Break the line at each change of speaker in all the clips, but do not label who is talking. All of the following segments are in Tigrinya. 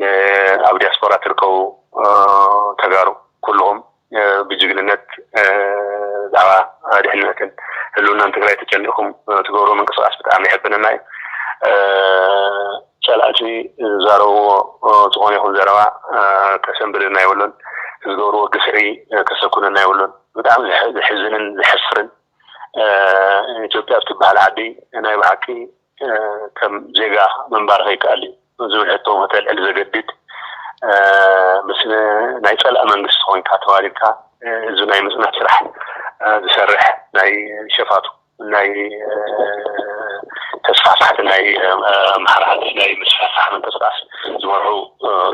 ንኣብ ዲያስፖራ ትርከቡ ተጋሩ ኩሉኹም ብጅግንነት ብዛዕባ ድሕንነትን ህልውናን ትግራይ ተጨኒቕኩም ትገብርዎ ምንቅስቓስ ብጣዕሚ የሕብነና እዩ። ፀላእቲ ዝዛረብዎ ዝኾነ ይኹን ዘረባ ከሰንብደና የብሉን። ዝገብርዎ ግፍዒ ከሰኩነና የብሉን። ብጣዕሚ ዘሕዝንን ዘሕፍርን ኢትዮጵያ እትበሃል ዓዲ ናይ ብሓቂ ከም ዜጋ ምንባር ከይከኣል እዩ ዝብል ሕቶ ከተልዕል ዘገድድ ምስ ናይ ጸላእ መንግስቲ ኮይንካ ተዋዲድካ ህዝቢ ናይ ምጽናት ስራሕ ዝሰርሕ ናይ ሸፋቱ ናይ ተስፋሕፋሕቲ ናይ ኣምሓራሓቲ ናይ ምስፋሕፋሕ ምንቅስቃስ ዝመርሑ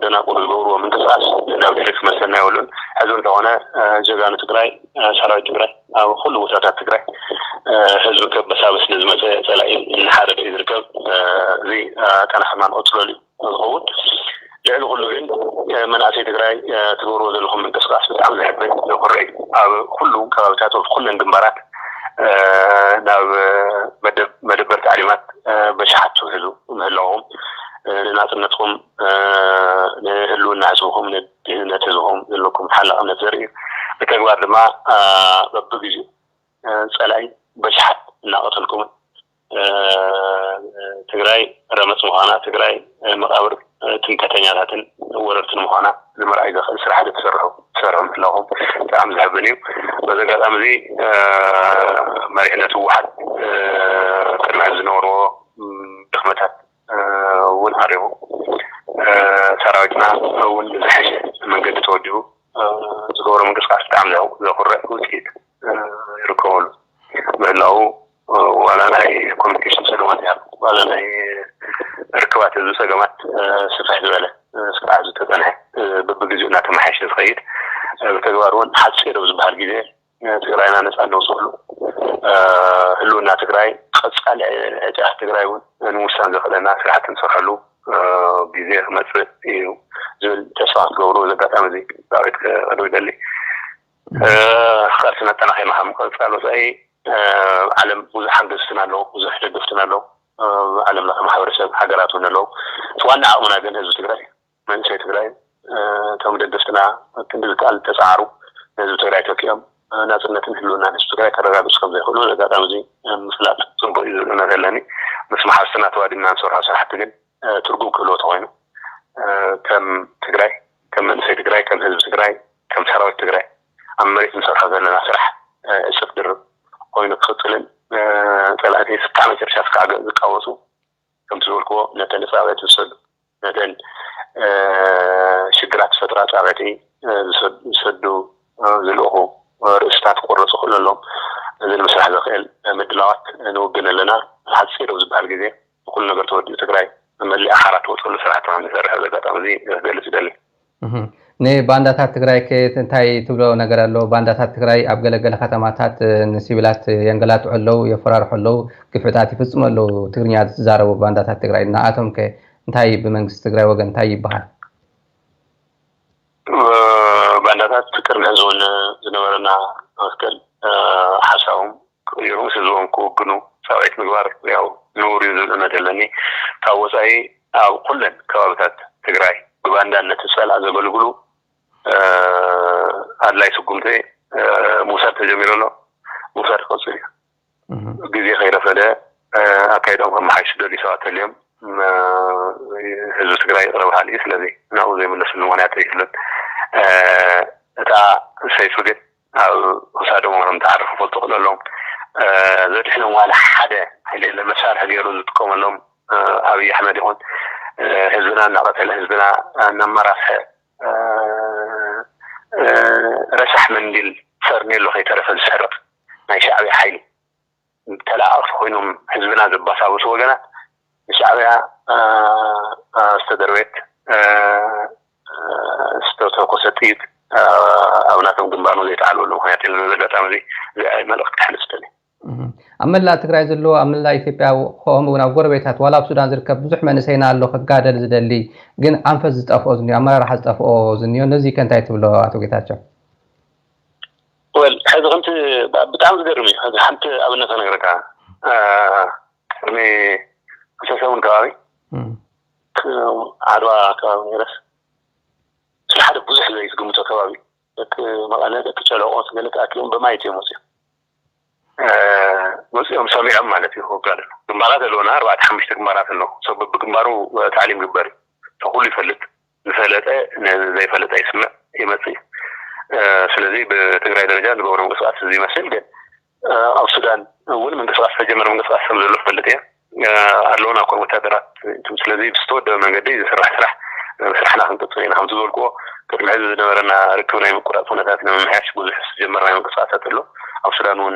ደናቁር ዝገብርዎ ምንቅስቃስ ናብ ድሕሪ ክመልሰና የብሉን ሕዚ እንተኾነ ጀጋኑ ትግራይ ሰራዊት ትግራይ ኣብ ኹሉ ቦታታት ትግራይ ህዝቢ ከበሳብስ ንዝመፀ ፀላኢ እናሓረደ እዩ ዝርከብ። እዚ ኣጠናኽርና ንቕፅለሉ እዩ ዝኸውን። ልዕሊ ኹሉ ግን መናእሰይ ትግራይ ትገብርዎ ዘለኹም ምንቅስቓስ ብጣዕሚ ዘሕብን ዘኹርዕ እዩ። ኣብ ኹሉ ከባቢታት ወብ ኹለን ግንባራት ናብ መደበር ታዕሊማት በሽሓት ትውሕዙ ምህላውኹም ንናፅነትኹም ንህልውና ህዝብኹም ንድህነት ህዝብኹም ዘለኩም ሓላቕነት ዘርኢ እዩ። ብተግባር ድማ በብግዚኡ ፀላኢ በሽሓት እናቐተልኩምን ትግራይ ረመፅ ምዃና ትግራይ መቓብር ትምከተኛታትን ወረርትን ምዃና ንምርኣይ ዘኽእል ስራሕቲ ትሰርሑ ትሰርሑ ምህላኹም ብጣዕሚ ዘሕብን እዩ። በዚ ኣጋጣሚ እዚ መሪሕነት ህወሓት ቅድሚ ሕዚ ዝነበርዎ ድኽመታት እውን ዓሪቡ ሰራዊትና እውን ብዝሐሸ መንገዲ ተወዲቡ ዝገብሮ ምንቅስቃስ ብጣዕሚ ዘኹርዕ ውፅኢት ይርከበሉ ምህላው ዋላ ናይ ኮሚኒኬሽን ፀገማት ይሃሉ ዋላ ናይ ርክባት ህዝቢ ፀገማት ስፍሕ ዝበለ እስካዕ ኣብዚ ተፀንሐ በብግዚኡ እናተመሓየሸ ዝኸይድ ብተግባር እውን ሓፂር ኣብ ዝበሃል ግዜ ንትግራይና ነፃ እነውፀሉ ህልውና ትግራይ ቐፃሊ ዕጫ ትግራይ እውን ንምውሳን ዘኽእለና ስራሕቲ እንሰርሐሉ ግዜ ክመፅእ እዩ ዝብል ተስፋ ክትገብሩ እዚ ኣጋጣሚ እዚ ዳዊት ክቐርብ ይደሊ ቃልስና ኣጠናኺርና ካብ ምቕፃል ወፃኢ ዓለም ብዙሕ ሓገዝትን ኣለዉ ብዙሕ ደገፍትን ኣለዉ ዓለም ለኸ ማሕበረሰብ ሃገራት እውን ኣለዉ እቲ ዋና ዓቕምና ግን ህዝቢ ትግራይ መንእሰይ ትግራይ እቶም ደገፍትና ኣብ ክንዲ ዝከኣል ዝተፀዓሩ ንህዝቢ ትግራይ ተኪኦም ናፅነትን ህልውናን ህዝቢ ትግራይ ከረጋግፁ ከምዘይኽእሉ በዚ ኣጋጣሚ እዚ ምፍላጥ ፅቡቕ እዩ ዝብል እምነት ኣለኒ። ምስ መሓዝትና ተዋዲድና ንሰርሖ ስራሕቲ ግን ትርጉም ክህልዎ ተኾይኑ ከም ትግራይ፣ ከም መንእሰይ ትግራይ፣ ከም ህዝቢ ትግራይ፣ ከም ሰራዊት ትግራይ ኣብ መሬት ንሰርሖ ዘለና ስራሕ እፅፍ ድርብ ኾይኑ ክቕፅልን ፀላእቲ እስካዕ መጨረሻ እስካዕ ዝቃወሱ ከምቲ ዝበልክዎ ነተን ፃውዒት ዝሰዱ ነተን ሽግራት ዝፈጥራ ፃውዒት ዝሰዱ ዝልእኹ ርእስታት ክቑረፁ ክእሉ ኣለዎም። እዚ ንምስራሕ ዘኽእል ምድላዋት ንውግን ኣለና። ሓፂር ኣብ ዝበሃል ግዜ ንኹሉ ነገር ተወዲኡ ትግራይ መሊኣ ሓራ ትወፀሉ ስራሕቲ ከምንሰርሕ በዚ ኣጋጣሚ እዚ ክገልፅ ይደሊ።
ንባንዳታት ትግራይከ እንታይ ትብሎ ነገር ኣሎ? ባንዳታት ትግራይ ኣብ ገለ ገለ ከተማታት ንሲቪላት የንገላትዑ ኣለው፣ የፈራርሑ ኣለው፣ ግፍዕታት ይፍፅሙ ኣለው፣ ትግርኛ ዝዛረቡ ባንዳታት ትግራይ። ንኣቶምከ እንታይ ብመንግስቲ ትግራይ ወገን እንታይ ይበሃል? ባንዳታት ቅድሚ ሕዚ እውን ዝነበረና
መትከል ሓሳቦም ክቕይሩ ምስ ህዝቦም ክውግኑ ጻውዒት ምግባር ያው ንቡር'ዩ ዝብል እምነት ኣለኒ። ካብ ወጻኢ ኣብ ኩለን ከባብታት ትግራይ ብባንዳነት ዝጸልኣ ዘገልግሉ ኣድላይ ስጉምቲ ምውሳድ ተጀሚሩ ኣሎ። ምውሳድ ክቕጽል'ዩ። ግዜ ከይረፈደ ኣካይድኦም ከመሓይሹ ዝደልዩ ሰባት ተልዮም ህዝቢ ትግራይ ይቕረ በሃሊ እዩ። ስለዚ ናብኡ ዘይምለስሉ ምኽንያት ኣይህሉን። እታ ሰይፊ ግን ኣብ ክሳዶም ወረ ምተዓርፉ ክፈልጡ ክለሎም ዘድሕኖም ዋላ ሓደ ሓይሊ የለን መሳርሒ ገይሩ ዝጥቀመሎም ኣብይ ኣሕመድ ይኹን ህዝብና እናቐተለ ህዝብና እናመራስሐ ረሳሕ መንዲል ፈርኔሎ ከይተረፈ ዝሰርቕ ናይ ሻዕብያ ሓይሊ ተለኣኣኽቲ ኮይኖም ህዝብና ዘባሳብሱ ወገናት ብሻዕብያ ዝተደርበየት ዝተተኮሰት ጥይት ኣብ ናቶም ግንባር ንዘይተዓልበሉ ምክንያት የለን። በዚ ኣጋጣሚ እዚ እዚ መልእኽቲ ከሕልፍ ደልየ። ኣብ መላእ
ትግራይ ዘሎ ኣብ መላእ ኢትዮጵያ ከምኡ እውን ኣብ ጎረቤታት ዋላ ኣብ ሱዳን ዝርከብ ብዙሕ መንእሰይና ኣሎ ክጋደል ዝደሊ ግን ኣንፈት ዝጠፍኦ ዝኒኦ ኣመራርሓ ዝጠፍኦ ዝኒኦ ነዚከ እንታይ ትብሎ ኣቶ ጌታቸው? ወል
ሕዚ ከምቲ ብጣዕሚ ዝገርም እዩ ሕዚ ሓንቲ ኣብነት ክነግረካ ቅድሚ ክልተ ሰሙን ከባቢ ዓድዋ ከባቢ ነይረስ ስለ ሓደ ብዙሕ ዘይትግምቶ ከባቢ ደቂ መቐለ ደቂ ጨለቆ ገለ ተኣኪቦም በማየት እዮም መፅኦም መፅኦም ሰሚዖም ማለት እዩ ክወጋድ ግንባራት ኣለውና ኣርባዕተ ሓሙሽተ ግንባራት ኣለዉ ሰብ ብግንባሩ ታዕሊም ግበር እዩ ተኩሉ ይፈልጥ ዝፈለጠ ነዚ ዘይፈለጠ ይስምዕ ይመጽእ እዩ ስለዚ ብትግራይ ደረጃ ዝገብሮ ምንቅስቃስ እዚ ይመስል ግን ኣብ ሱዳን እውን ምንቅስቃስ ዝተጀመረ ምንቅስቃስ ከም ዘሎ ክፈልጥ እየ ኣለውን ኣኮን ወታደራት እንቱም ስለዚ ብዝተወደበ መንገዲ ዝስራሕ ስራሕ ስራሕና ክንቅፅል ኢና ከምቲ ዝበልክዎ ቅድሚ ሕዚ ዝነበረና ርክብ ናይ ምቁራፅ ኩነታት ንምምሕያሽ ብዙሕ ዝጀመርናዮ ምንቅስቃሳት ኣሎ ኣብ ሱዳን እውን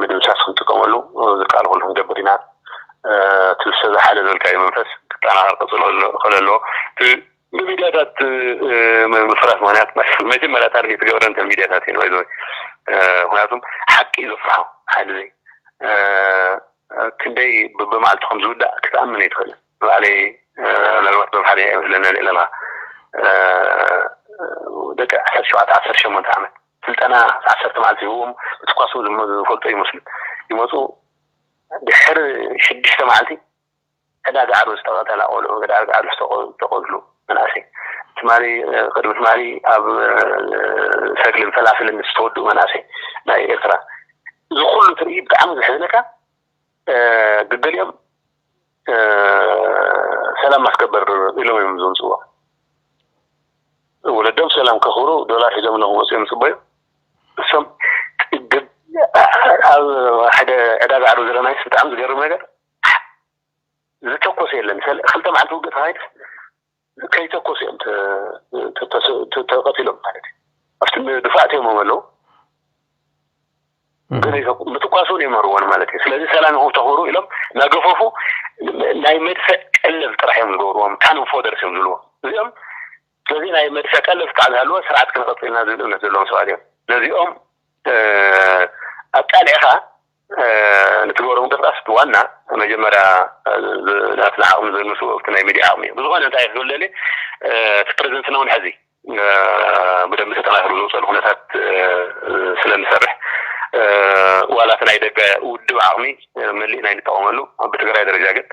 ምድምሳስ ክንጥቀመሉ ዝከኣል ኩሉ ክንገብር ኢና። እቲ ምሰ'ዛ ሓይለ ዘልካዮ መንፈስ ክጠናኸር ክቕፅል ከለዎ እቲ ብሚድያታት ምፍራስ ምኽንያት መጀመርያ ታርጌት ዝገብረን እተን ሚድያታት እየን ባይ ዘ ዌይ ምኽንያቱ ሓቂ እዩ ዘፍርሖ ሓይሊ ዘይ ክንደይ በብመዓልቱ ከም ዝውዳእ ክትኣምን ኣይትኽእልን ንባዕለይ ምናልባት በምሓርኛ እየ መስለኒ ኣልዒለልኻ ደቂ ዓሰርተ ሸውዓተ ዓሰርተ ሸሞንተ ዓመት ስልጠና ዓሰርተ መዓልቲ ይህብኡም ክትኳሱ ዝፈልጡ ኣይመስሉን ይመጹ ድሕሪ ሽዱሽተ መዓልቲ ዕዳ ጋዕሩ ዝተቀተላ ቆልዑ ዕዳ ጋዕሩ ዝተቀትሉ መናእሰይ ትማሊ ቅድሚ ትማሊ ኣብ ሰግልን ፈላፍልን ዝተወድኡ መናእሰይ ናይ ኤርትራ እዚ ኩሉ ትርኢ ብጣዕሚ ዘሕዝነካ ገገሊኦም ሰላም ማስከበር ኢሎም እዮም ዝምፅዎ ወለዶም ሰላም ከኽብሩ ዶላር ሒዞም ለ ክመፅኦም ይፅበዩ እሶም ኣብ ሓደ ዕዳጋ ዓዱ ዘለናይስ ብጣዕሚ ዝገርም ነገር ዝተኮሰ የለን ክልተ መዓልቲ ውግእ ተኻይድስ ከይተኮሱ እዮም ተቀቲሎም ማለት እዩ ኣብቲ ድፋዕት እዮም ኣለዉ ምትኳስ እውን ይመርዎን ማለት እዩ ስለዚ ሰላም ይኹም ተኽብሩ ኢሎም ናገፈፉ ናይ መድፍዕ ቀለብ ጥራሕ እዮም ዝገብርዎም ካንም ፎደርስ እዮም ዝብልዎ እዚኦም ስለዚ ናይ መድፍዕ ቀለብ ክሳዕ ዝሃለዎ ስርዓት ክንቐፅልና ዝብል እምነት ዘለዎም ሰባት እዮም ነዚኦም ኣቃሊዕኻ ንትገብሮ ምንቅስቃስ እቲ ዋና መጀመርያ ናትና ዓቅሚ ዘንሱ ኣብቲ ናይ ሚድያ ዓቅሚ እዩ ብዝኮነ እንታይ ክብል ደልየ እቲ ፕረዘንትና እውን ሐዚ ብደንቢ ተጠናኪሩ ዝወፀሉ ኩነታት ስለንሰርሕ ዋላ እቲ ናይ ደገ ውድብ ዓቅሚ መሊእና ኣይንጠቀመሉ ብትግራይ ደረጃ ግን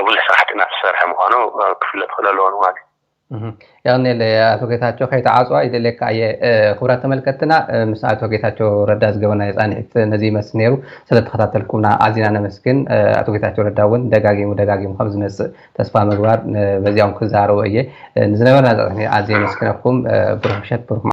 ብዙሕ ስራሕቲ እናተሰርሐ ምኳኑ ክፍለጥ ክክእል ኣለዎ ንማለት እዩ። የቕኔለይ
ኣቶ ጌታቸው ከይተዓፅዋ ይደልየካ እየ ክብራት ተመልከትና ምስ ኣቶ ጌታቸው ረዳ ዝገበናዮ ፃንሒት ነዚ ይመስል ነይሩ ስለተኸታተልኩምና ኣዚና ነመስግን ኣቶ ጌታቸው ረዳ እውን ደጋጊሙ ደጋጊሙ ከም ዝመፅእ ተስፋ ምግባር በዚኦም ክዛረቡ እየ ንዝነበረና ዛፅኒ ኣዝየ የመስግነኩም ብሩክ ምሸት ብሩክ